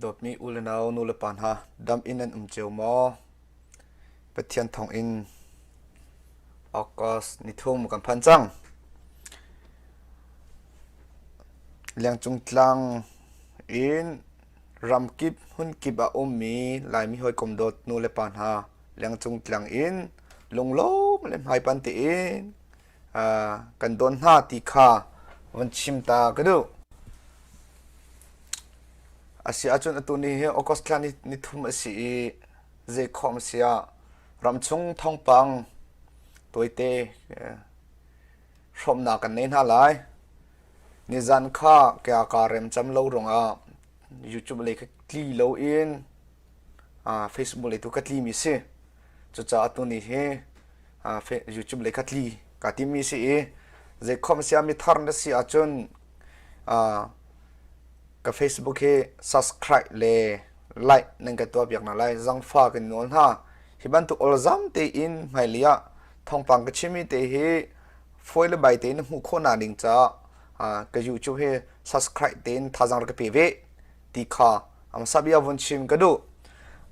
Dawtmi unau nulepa hna, dam in nan um cio maw? Pathian thawngin August nithum kan phan cang. Lengcung tlang in ramkip hunkip a ummi Laimi hawikom dawt nulepa hna lengcung tlang in lunglawm le hmaipan tein kan dawn hna ti kha van chim ta ka duh. A si ahcun atu ni hi August thla ni, ni thum a si i zei khawm a si ah ramchung thongpang toite hrawmnak kan nei hna lai. Nizan kha kya ka rem cham lo rungah YouTube le ka tli lo in Facebook le tu ka tli mi si. Cucaah tu ni hi YouTube le kha tli ka timi si i zei khom siami thar na si ahcun ka Facebook hi subscribe le like nan ka tuah biak na lai zangfa kan nawl hna hi bantuk olzam te in hmaili ah thongpang ka chimi te hi foi le bai te na hmu kho na ning ca ka YouTube hi subscribe tein thazang ka pe ve ti kha ang sabia vun chim ka duh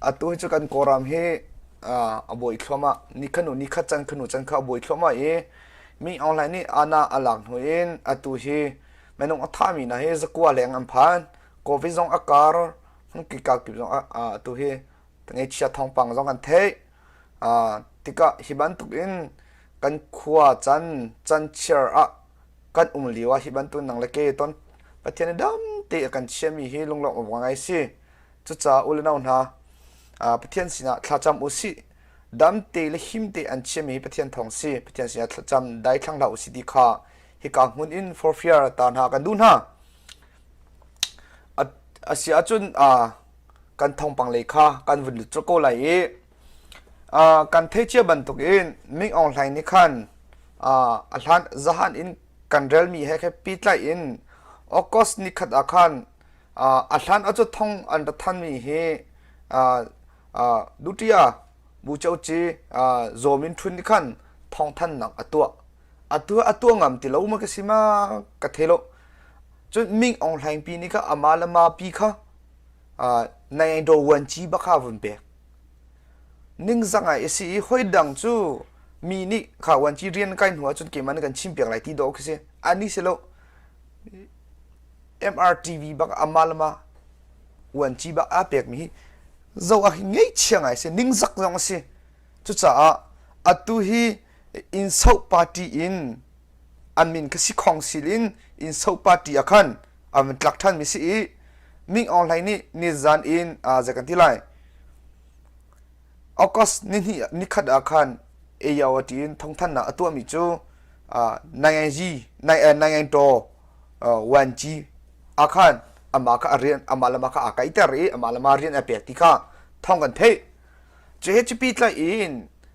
atu hi chu kan kawram hi a buai thloma ni khanu ni khat chan khanu chan kha a buai thloma i mi online nih ana alak hnu in atu hi menung athami na hi zakua leng an phan covid zong a kar hung ki ka kip zong atu hi tangai chia thong pang zong an thei tika hiban tuk in kan khua chan chan chiar a kan um lio ah hi bantuk nang le ke ton Pathian i dam te a kan chiami hi lunglawmh awk ngai si cucaah u le nau hna Pathian sinah thlacam u sih dam te le him te an chiami hi Pathian thawng si Pathian sinah thlacam dai thlang hlah u si ti kha hika hmun in forfiar ta hna kan duh hna a si ahcun kan thawngpang lei kha kan vun lut ko lai i kan thei cia bantuk in Ming Aung Hlaing nih khan a hlan zahan in kan relmi he khe pitlaih in August ni khat ah khan a hlan a cu thong an ra thanmi hi dutia bu choci zomin thun ni khan thong thannak a tuah a tua a tua ngam ti lo ma ka si ma ka the lo cun Ming Aung Hlaing pi ni kha ama le ma pi kha nai do wan chi bakha vun pek Ningzang ai a si i hoidang cu mi nih khauanci rian kai hnu ahcun keimah na kan chim piak lai ti dawh khi si. A ni si lo MRTV bak amah le mah uanci bak aa pekmi hi zo ah hin ngeihchia ngai a si. Ningzak zong a si. Cucaah atu hi Inso party in an min ka si khong sil in inso party ah khan an van tlak ṭhan mi si i Ming Aung Hlai nih nizan in zei kan ti lai August ni ni khat ah khan AO a tiin thongthannak a tuah mi cu Nai Ji Nai To Wan Ji a khan ama ka rian ama lama ka a kai ter i ama lama rian a pek ti kha thong kan thei cu he cupi tlai in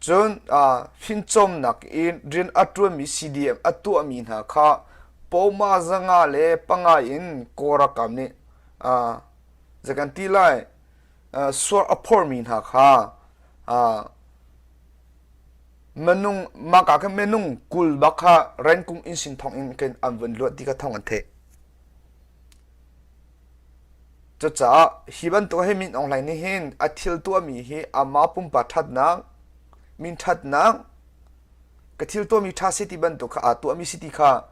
Cun fimcawnnak in rian a ṭuanmi CDM a tuahmi hna kha pawma zanga le panga in Kawlralkap nih zei kan ti lai suar a phormi hna kha minung mahka khin minung kul bak kha rankung inn sin thawng in an vun luat ti kha thawng an theih. Cucaah hi bantuk hin Min Aung Hlaing nih hin a thil tuahmi hi amah pumpak ṭhatnak, min ṭhatnak, ka thil tuahmi ṭha si ti bantuk kha aa tuahmi si ti kha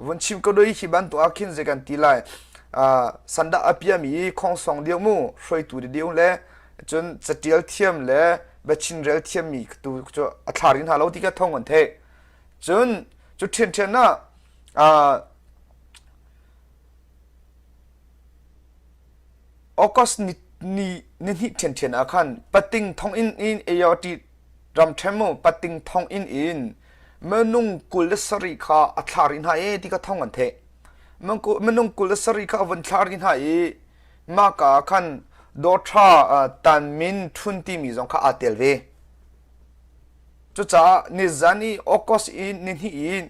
vun chim ka duai. Hi bantuk ah khin zei kan ti lai, sandah a piami khongsong deuh mu hruaitu deuh le cun caṭial thiam le biachinrel thiammi tu cu a thlarin hna lo ti kha thawng an theih. Cun cu ṭhianṭhian ah August ni hnih ṭhianṭhian ah khan pating thonginn in Aorti ram ṭhem mu pating thonginn in minung kul le sarih kha a thlar i hna e ti kha thong an theh. Minung kul le sarih kha a vun thlar i hna i mahka ah khan Dawṭha Tanmin Ṭhun timi zong kha aa tel ve. Cucaah nizan i August i nihnih i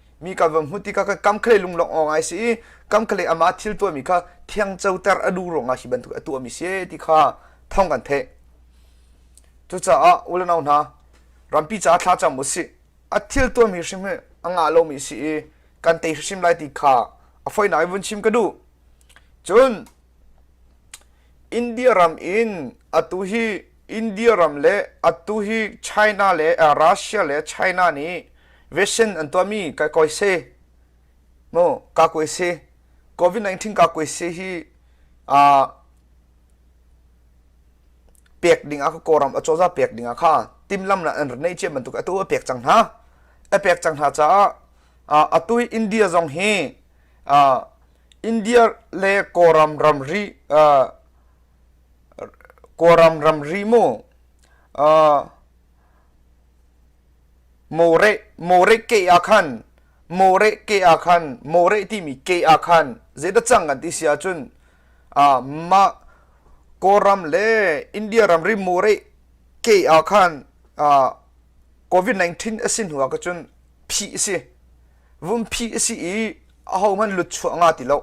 mi kan van hmuti ka kam khle lung long awng ai si i kam khle ama thil tua mi kha thiang choter a du ronga hi bantuk a tua mi se ti kha thong kan the cucaah ulanau hna rampi ca thla chang mu si a thil tua mi hrim he anga lo mi si i kan te hrim lai ti kha a foi nai vun chim ka du cun india ram in atu hi India ram le atu hi China le Russia le China nih vaccine an tuahmi ka koi se mu ka koi se covid-19 ka koi se hi a pek ding a ka kawram a cawza pek ding a kha timlam na an rnei ce bantuk atu a pek cang hna a pek cang hna caah atu India zong hi India le kawram ramri Kawlram ramri mu More ke ah khan More ke ah khan More timi ke ah khan zeidah cang an ti si ahcun mah Kawlram le India ramri More ke ah khan COVID-19 a si hnu ah ka cun phih a si. vumpi a si i ahohmanh lutchuah nga ti lo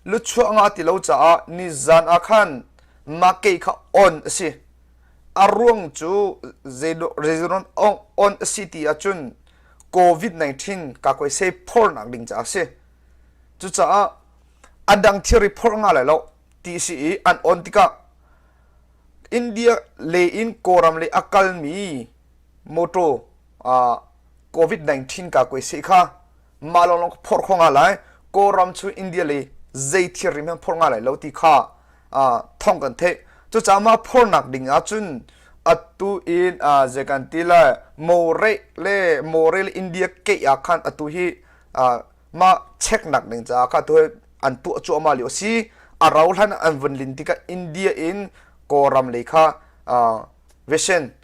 lutchuah nga ti lo caah nizan ah khan make kha on a si a ruang cu zeizawn on a si ti ahcun covid 19 ka koe sei phornak ding caah si cucaah a dang thiri phor nga lai lo ti si i an on tikah india le in kawram le a kalmi mawtaw covid-19 kaa kuai seh kha mah lawnglawng ka phorh khawh nga lai kawlram cu india le zei thil rim hen phorh nga lai lo ti kha thawng kan theih cucaah mah phornak ding ahcun atu in zei kan ti lai more le more le india keih ah khan atu hi mah cheknak ding caah kha atu an tuah cuahmah lio si a rau hlan an vun lin tikah india in kawlram le kha vesen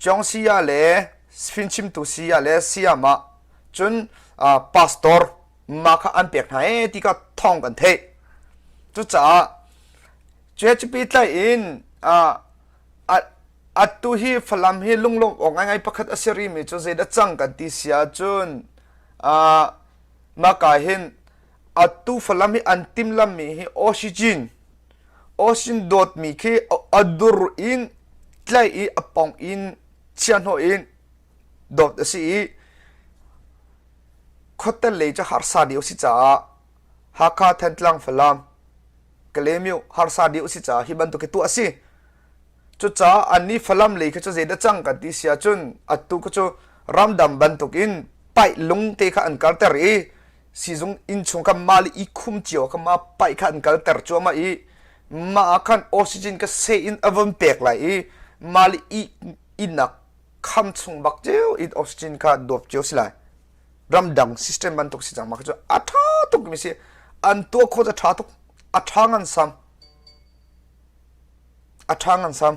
Cawng saya le fimchimtu saya le sayamah cun pastor ma kha an pek hna ee ti kha thawng kan theih. Cucaah cuacupi tlai in atu hi Falam hi lunglawm awk ngai pakhat a si rimi cu zeidah cang kan ti sia cun maka hin atu Falam hi an timlammi hi oxygen Oshindot mi khi a dur in tlaih i a pong in chiahhnawh in dawt a si i khuatel lei cu harsa deuh a si caah Hakha Thantlang Falam Kalemyo harsa deuh a si caah hi bantuk hi tuah a si. Cucaah annih Falam lei kha cu zeidah cang kan ti siah cun atu kha cu ramdang bantuk in paih lung te kha an karter i sizung inchung ka ma le i khum cio ka ma pai kha an kal ter cuama i ma ah khan oxygen ka se in avon pek lai i ma le i inak kham chung bak ceu in oxygen kha dop cio si lai ramdang system ban tuk si cang ma chu a tha tuk mi si an tua kho a tha tuk a tha ngan sam a tha ngan sam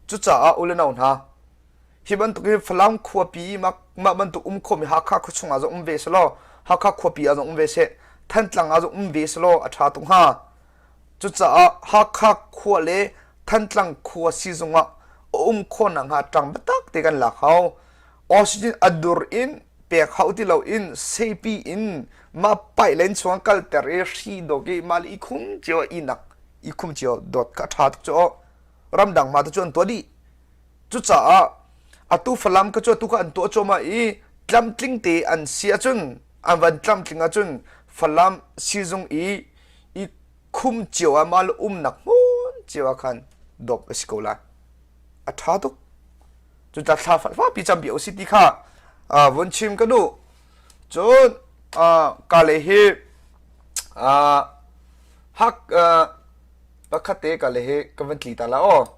cu ca a uleno hna Hi bantuk hi Falam khuapi mah bantuk um khomi Hakha khua chungah zong um ve selaw Hakha khuapi ah zong um ve seh Thantlang ah zong um ve selaw a ṭha tuk hnga. Cucaah Hakha khua le Thantlang khua sizung ah a um khawnak hnga ṭang biatak te kan lak hau. Oxygen a dur in pek hau ti lo in seipi in mah pailen chuang kalter i hri dog i mali i khum cio inak i khum cio dot ka ṭha tuk cu ramdang ma tu chuan tua dih Cucaah atu Falam ka cu atu kha an tuah cuahmah i tlamtling te an si ahcun an van tlamtling ahcun Falam sizung i i khum cio ah mal umnak hmun cio ah khan dop a si ko lai a ṭha tuk cucun thla fakpi campi u si ti kha vun chim ka duh cun kale hi hak pakhat te kale hi ka van tli ta la aw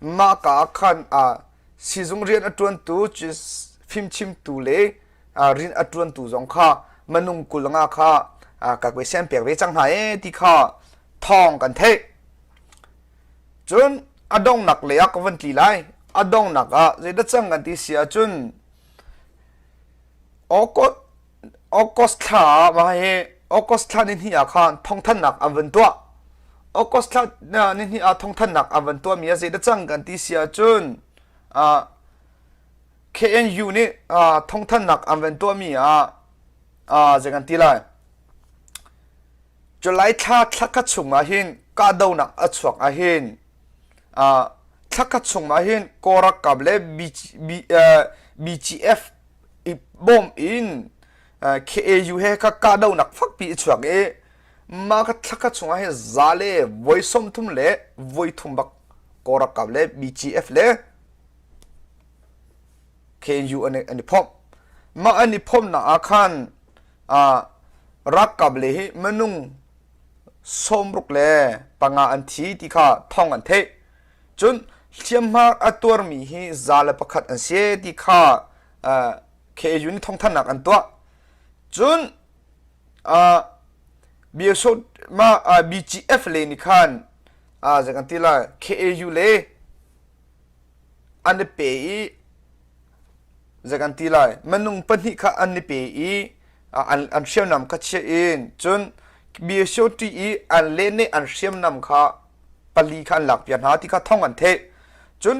Mahka ah khan siizung rian a ṭuantu, fimchimtu le rian a ṭuantu zong kha minung kul nga kha ka sian piak ve cang hna ee ti kha thawng kan theih. Cun a donghnak lei ah ka vun tli lai. A donghnak ah zeidah cang kan ti si ahcun Okot August thla ah mah hi August thla nihnih ah khan thawngthannak an van tuah. August thla nihnih ah thawngthannak an van tuahmi a zeidah cang kan ti si ahcun uh, KNU nih uh, thawngthannak an van tuahmi ah uh, zei kan ti lai July thla thla khat chungah hin kahdohnak a chuak ah hin uh, thla khat chungah hin Kawlralkap le BGF i bawm in uh, KAU he ka kahdohnak fakpi a chuak i mah ka thla khat chungah hin za le voi sawm thum le voi thum bak Kawlralkap le BGF le KNU an an i phomh mah an i phomhnak ah khan ah ralkap le hi minung sawmruk le panga an thi ti kha thong an theih cun hliamhma a tuarmi hi za le pakhat an si ti kha uh, KU nih thongthannak an tuah cun uh, BSO ma uh, BGF le ni khan uh, zekan ti la KAU le an i pe i zei kan ti lai minung pahnih kha an i pe i an an hriamnam kha chiah in cun mi shoti i an le nih an hriamnam kha pali kha an lakpiak hna ti kha thawng an theih cun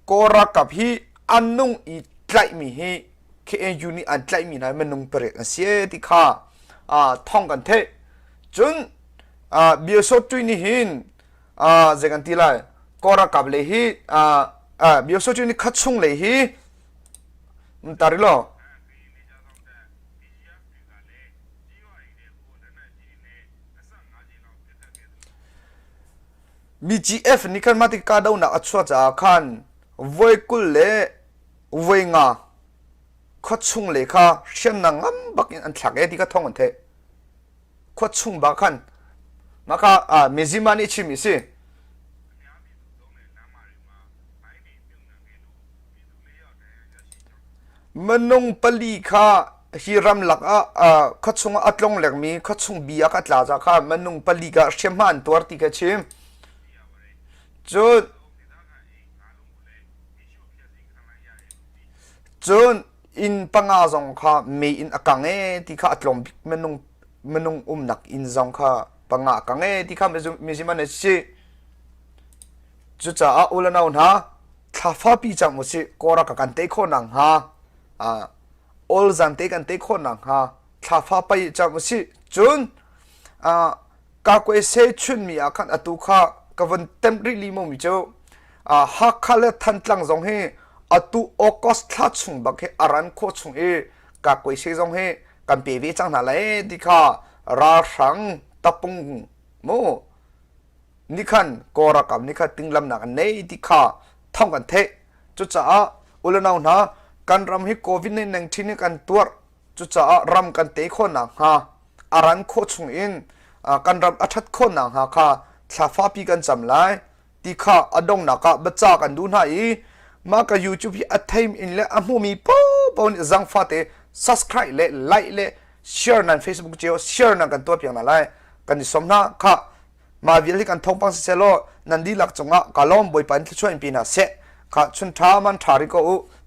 kaw ralkap hi an nung i tlaihmi hi KNU nih an tlaihmi hna minung pariat an si ti kha thawng kan theih cun Myo Shotui nih hin zei kan ti lai kaw ralkap le hi myoso cu ni khat chung le hi mtari lo mi gf ni khan mati ka do nak achua cha khan voi kul le voi nga kho chung le kha hriam na ngam bakin an thlak e ti ka thong an the khua chung ba khan maka mezima nih chim isi manung pali kha hi ram lak ah kho chung a tlong lek mi kho chung bi aka tla za kha manung pali ka shem han tuar ti ka chim cun cun inn panga zong kha me in a kang e ti kha a tlawm bik minung minung umnak inn zong kha panga a kang e ti kha mizim an si cucaah ulanau hna thlafa pi cang mu si kora ka kan te kho nang ha a ol zan te kan te kho nang ha thlafa pai cang mu si cun a ka kwe se chun mi a khan atu kha ka von tem ri li mo mi chu a hakha le than tlang zong hi atu august thla chung bak hi aran kho chung i ka kwe se zong hi kan pe ve chang na lai ti kha ra hrang tapung mu ni khan korakam ni kha tinglam nak nei ti kha thong kan the chu cha ulanau na kan ram hi covid 19 kan tuar Cucaah ram kan te khawhnak hnga a ran khawh chung in kan ram a ṭhat khawhnak hnga kha thlafapi kan cam lai ti kha a donghnak ah baca kan duh hna i mah ka YouTube hi a theim in le a hmumi popo nih zang fate subscribe le like le share nan Facebook cio share nan kan tuah piak hna lai kan i som hna kha ma vial hi kan thongpang si selaw nan di lak cungah kalom boipan thluchuah in pina se kha chun tha man tha ri ko u